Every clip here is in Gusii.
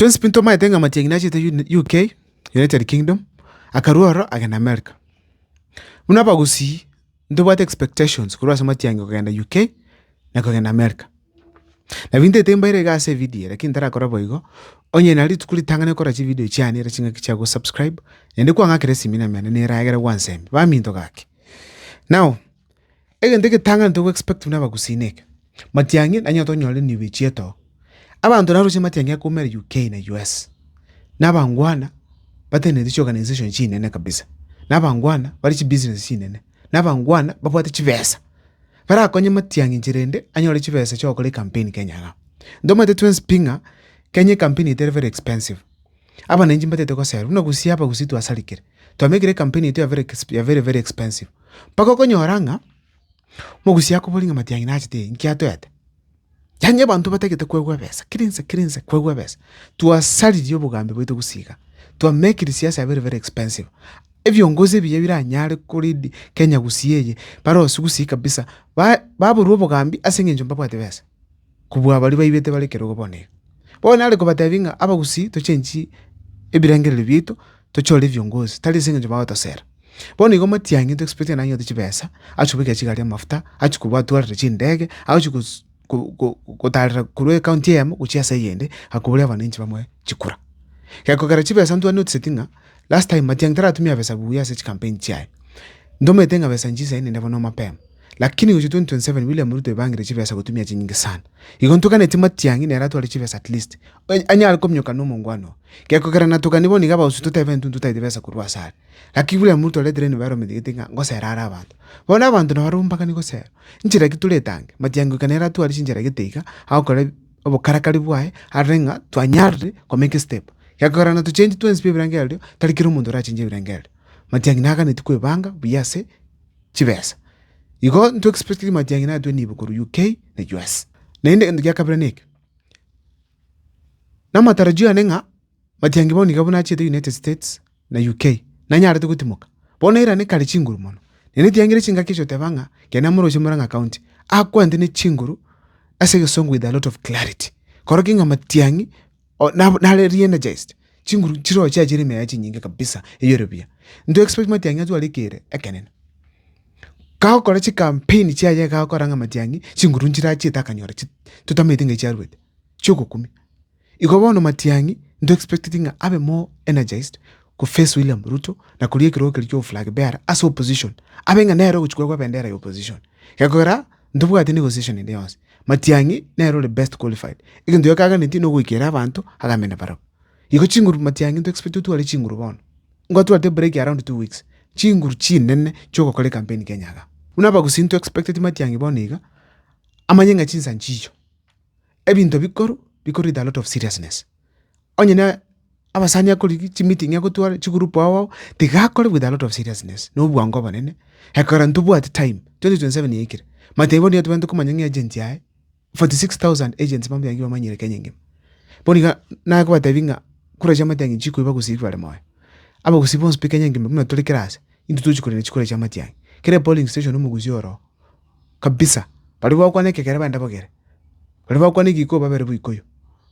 Twensi pi ntomaete ng'a matiang'ina achete UK, United Kingdom, akarua ororo agenda America. Buna abagusii ntobwate expectations korwa ase matiang'ina kogenda UK na kogenda America. Nabo intete mbaire iga ase evidio eye lakini ntarakora boigo, onye na rituko ritang'ani okora chividio chiane ere ching'aki chia gosubscribe, naende kwang'akera esimi na emeno nera egere gwansemia, baminto gaki. Now. Egento egetang'ani togo expect buna abagusii eke, matiang'i nanyote onyore nigo echietoo, abanto naroche matiang'i akoumera UK na US, na abangwana batenereti chiorganisation chinene kabisa, na abangwana bare chibusiness chinene, na abangwana babwate chibesa, barakonye matiang'i inche rende anyore chibesa chiagokora ecampaign Kenya igaa. Ntomanyete twens pi ng'a Kenya ecampaign yaito ere very expensive. Abananchi mbatete goserwa buna gusii aba gusii twasarikire. Twamekire campaign yaito ya very exp ya very very expensive. Mpaka okonyora ng'a, mogusii akobori ng'a matiang'i nachete eye, nki atoete? Yaani abanto batagete koegwa ebesa, kera ense kera ense koegwa ebesa. Twasaririe obogambi bwaito gusii iga, twamekiri siasa ya very very expensive. Ebiongozi ebiya biranyare ko lead Kenya gusii eye, barosiwu gusii kabisa, ba baborwa obogambi aseng'encho mbabwati besa. kobua baria baibete bare ekerogo bono iga. Bono nare kobatebia ng'a abagusii tochenchi ebirengererio biaito, tochore ebiongozi, tari ase eng'encho bagotosera. Bono igo matiang'i into expect naye ng'ote chibesa, agochia kobekera chigari amafuta, agochia kobatwarera chindege, agochia gotarera korwa ekaunti eyemo gochia ase eyende, akoboria abananchi bamoe chikura. Gekogera chibesa ntwa noticeti ng'a last time matiang'i taratumia besa buya ase chikampeni chiaye. Ntomanyete ng'a besa nchisaine nende bono mapema. Lakini gochia 2027 William Ruto ebangire chibesa gotumia chinyinge sana. Igo ntoganetie Matiang'i nere atware chibesa at least anyare kominyoka na omongwana oo. Gekogera natogani bono iga abagusii totebe intwe ntotaete besa korwa ase are. Gaki William Ruto oretire nigo arometigeti ng'a ngosera are abanto. Bono abanto nabo barombakani gosera. Nchera ki tore etange? Matiang'i goika nere atware chinchera egete iga agokora obokarakari bwaye arore ng'a twanyarire ko make step. Gekogera na tochengi twensi bwa ebirengererio tari kera omonto orachengi ebirengererio. Matiang'i naganetie koebanga buya ase. chibesa. Igo nto expectingi matiang'ina atwe nibo korwa UK na US. Naende egento gia kabere neke, namatarajio yane ng'a matiangi bao niga buna achete United States na UK, nanyarete gotimoka. Bono erane kare chinguru mono, na netiangire chingaki echi oteba ng'a kera namoroche Murang'a County, akwantenene chinguru ase egesongo with a lot of clarity. Korokig'a matiang'i. nare re-energized, chinguru chirochio chiaye chiare emeyaya chinyinge kabisa, eyore buya. Into expect matiang'i atware ekeire ekenene. Kagokora chicampaign chiaye iga agokora ng'a matiang'i chinguru nchirachiete akanyora chi totamanyete ng'a chiaruete, chiogokumia. Igo bono matiang'i into expecteti ng'a abe more energized ko face William Ruto na koria ekerogo keria kia oboflag bearer ase opposition, abe ng'a nere ogochia korwa ebendera ya opposition, gekogera. Ntobwati negotiation ende yonsi. Matiang'i nere ore best qualified. Egento gioka aganeti nogoikera abanto agamena barabwo. Igo chinguru matiang'i nto expect otware chinguru bono. Nigo atwate break around two weeks. Chinguru chinene chiogokora ecampaign Kenya iga. Buna abagusii nto expecteti matiang'i bono iga amanye ng'a chinsa nchicho. Ebinto bikorwa bikorwa with a lot of seriousness. onye na abasani akorigia chimiting'i agotware chigroup ao ao, tiga akore with a lot of seriousness na obwango obonene, ekero ntobwati time, twenty twenty seven yaikire, matiga bono nigo tobwenerete komanya ng'a agent yaye, forty six thousand agents bambe baria bamanyire kenya engima. Bono iga nakobatebia ng'a kura chiamate ang'e nchikoiba gosii bare moyo. Abagusii bonsi pi kenya engima buna tore kera ase, intwe tochi korenda chikura chiamatiang'i. Kera epolling station omogusi oroo. kabisa. Baria bagokwana ekegere baende bagere, baria bagokwana egeikuu babere boikoyo,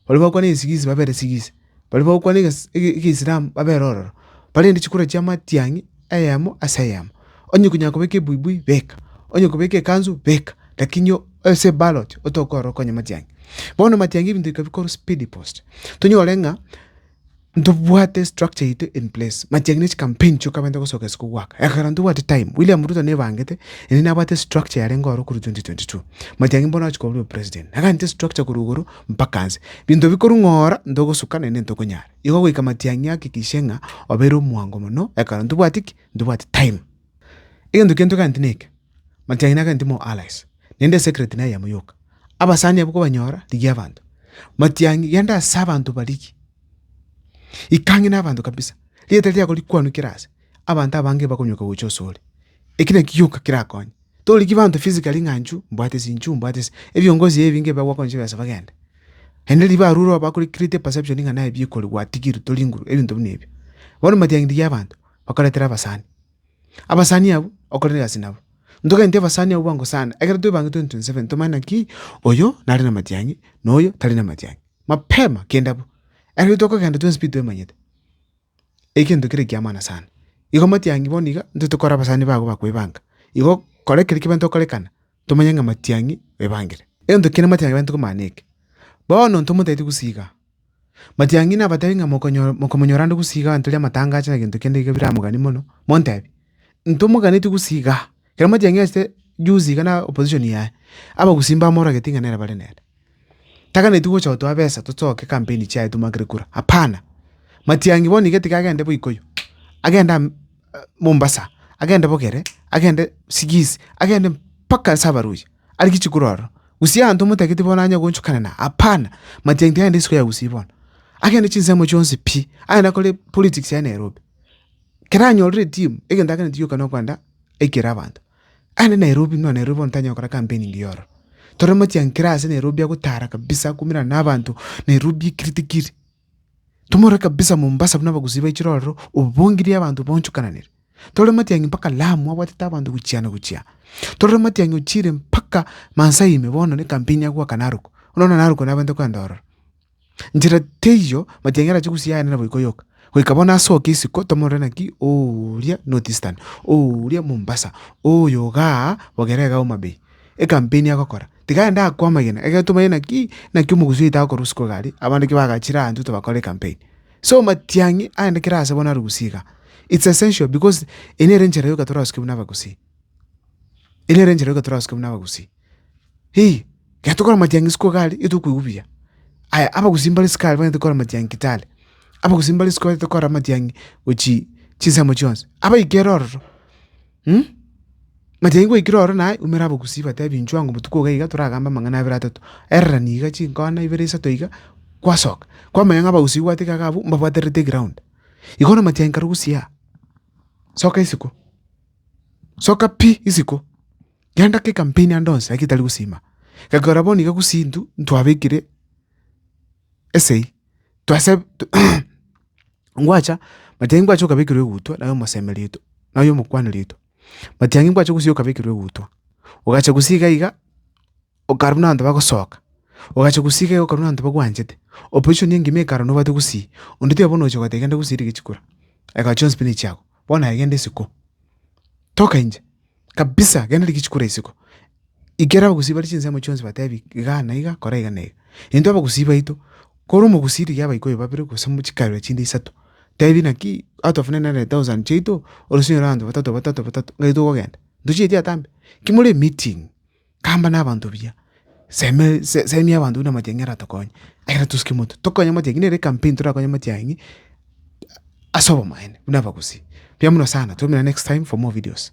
baria bagokwana egesigisi babere sigisi, baria bagokwana egesi ege- egeisilamu babere ororo, barende chikura chia matiang'i eyemo ase eyemo. Onye konyara kobeka ebuibui, beka, onye kobeka ekansu, beka, lakini o- ase eballot otokorora okonye matiang'i. Bono matiang'i ebinto bikabikorwa speedy post, tonyore ng'a. Ntobwate structure yaito in place, machiagini ne chicampaign chioka baenta gosoka isiko goaka, ekero ntobwati time William Ruto nebangete, ere nabwate structure yarenge oro korwa 2022, machiagini bono agochia koba president, agachete structure korwa igoro mpaka nse, binto bikorwa ng'ora ntogosuka naende ntokonyara, igo goika matiang'i ahakikishe ng'a obeire omwango mono ekero ntobwati ki? Ntobwati time. Egento kende togachete neke. Matiang'i nake ntimo Alais, naende Secret naye yamo yoka. Abasani abwo kobanyora, rigia abanto. Matiang'i, genda ase abanto barigie. Ikang'e nabanto kabisa. Rieta riako rikwanwe kera ase. Abanto abange bakonyoka gocha ase ore. Eki naki gioka kerakonye. Torigie banto physically ng'a inchu mbwate ase inchu mbwate ase. Ebiongozi ebi nge biagokoncha besa bagende. Naende riba arure oba akore create perception ng'a naye bikorwa gwatigirwe toringuru ebinto buna ebio. Bono Matiang'i rigia abanto, bakoretera abasani. Abasani abwo okorere egasi nabo, ntogende abasani abwo bagosane, ekero twebangete intwe inse babere tomanye naki oyo nare namatiang'i na oyo tari namatiang'i. Mapema kende abwo, ekero tokogenda twensi pi twemanyete, egento kere ekiamana sana. Igo amatiang'i bono iga, intwe tokore abasani bago bakoebanga, igo kora ekero kibe ntokorekana. tomanye ng'a matiang'i ebangire. Egento kende matiang'i ebangire tiko maana eke. Bono intwe motaeti gosiiga. Matiang'i nabatebi ng'a mokonyora mokomonyora ande gosiiga egento riria amatangache na gento kende iga biramogani mono, montebi, intwe moganeti gosiiga. Ekero matiang'i achete juzi iga na opposition yaye, abagusii mbamorageti ng'a nere bare nere. Taganeti gocha gotoa besa tochoke campaign chiaye tomagere kura hapana. Matiangi bono iga tiga agende bo Ikuyu, agende Mombasa, agende Bogere, agende Sigisi, agende mpaka ase Abaluhya are gichikuru ororo. Gusii abanto omotaketie bono anye gochukana naye hapana. Matiangi tiga agende isiko ya Gusii bono. Agende chinsemo chionsi pi, agende akore politics yaye Nairobi. Kero anyorire etimu, egento aganeti gioka nokogenda aikere abanto. Aye Nairobi nonya Nairobi bono tanyara gokora campaign mbuya ororo. Tore mochiankere ase Nairobi agotara kabisa akoirana na abanto Nairobi ekiri tikiri. Tomorore kabisa Mombasa buna abagusii baichire ororo obongirie abanto bonchokananire. Tore motiangi mpaka Lamu abwatete abanto gochia na gochia. Tore motiangi ochiire mpaka Maasai ime bono ne campaign ya goaka Narok. Bono Narok nabwenerete kogenda ororo. Nchera teiyo matiang'era ache gosia ayande naboiko yoka. Goika bono ase okia isiko tomorore naki oria North Eastern, oria Mombasa, oyo igaa bogere igaa Homa Bay, ekampeni agokora. Tiga aende akwo amagena, egere tomanye naki naki omogusii oito agokorwa isiko iga aria, abande ki bagachire aa intwe tobakore ekampeni. So matiang'i aende kera ase bono are gusii igaa. It's essential because eye nere enchera yoka torasuke buna abagusii, eye nere enchera yoka torasuke buna abagusii. Hii, ekero tokora amatiang'i isiko iga aria, nigo tokoigwa buya. Aya abagusii mbare isiko aria banyete gokora amatiang'i Kitale, abagusii mbare isiko banyete gokora amatiang'i gochia chinsemo chionsi, abaikire ororo amatiang'i gwaikire ororo naye oumera abagusii batebi inchuo anga obotuko iga iga toragambe amang'ana abere atato, erorani iga chinkona ibere isato iga, kwasoka, kwamanya ng'a abagusii bwate iga iga abwo mbabwaterete eground. Igo bono amatiang'i karogosia aa, soka isiko, soka pi isiko. Genda kekampeni ande onsi eki tari gosiima, gekora bono iga gusii intwe ntwabekire esegi twase ngwacha matiang'i ngwacha okabekirwa egutwa naye omosemi ritwe naye omokwani ritwe, matiang'i ngwacha gusii okabekirwa egutwa, ogacha gusii iga iga okarwa nabanto bagosoka, ogacha gusii iga iga okarwa nabanto bagwanchete, opposition engima ekara nobwate gusii, onde tiga bono ogocha ogoteba genda gusii rigachikora, eka chionsi pi nichiago, bono aye genda isiko, toka inche. kabisa, genda rigichiko ore isiko, ikera abagusii bare chinsemo chionsi batebi igaa na igaa, kora iga na iga. Intwe abagusii baito, kore omogusii rigia abaikoi babere gose mo chikario chinde isato, tebi naki atwafenee nere thousand chiaito, orosinyore abanto batato batato batato, ng'ai tokogenda? Ntochieti atambe? Ki more emeeting. Tamba nabanto buya, seme se- semia abanto buna amachang'ina aratokonye, ekero tosike omonto tokonye amachang'ina ere ecampaign torakonye amachang'i ase obomaene buna abagusii. Mbuya mono sana, twaumerana next time for more videos.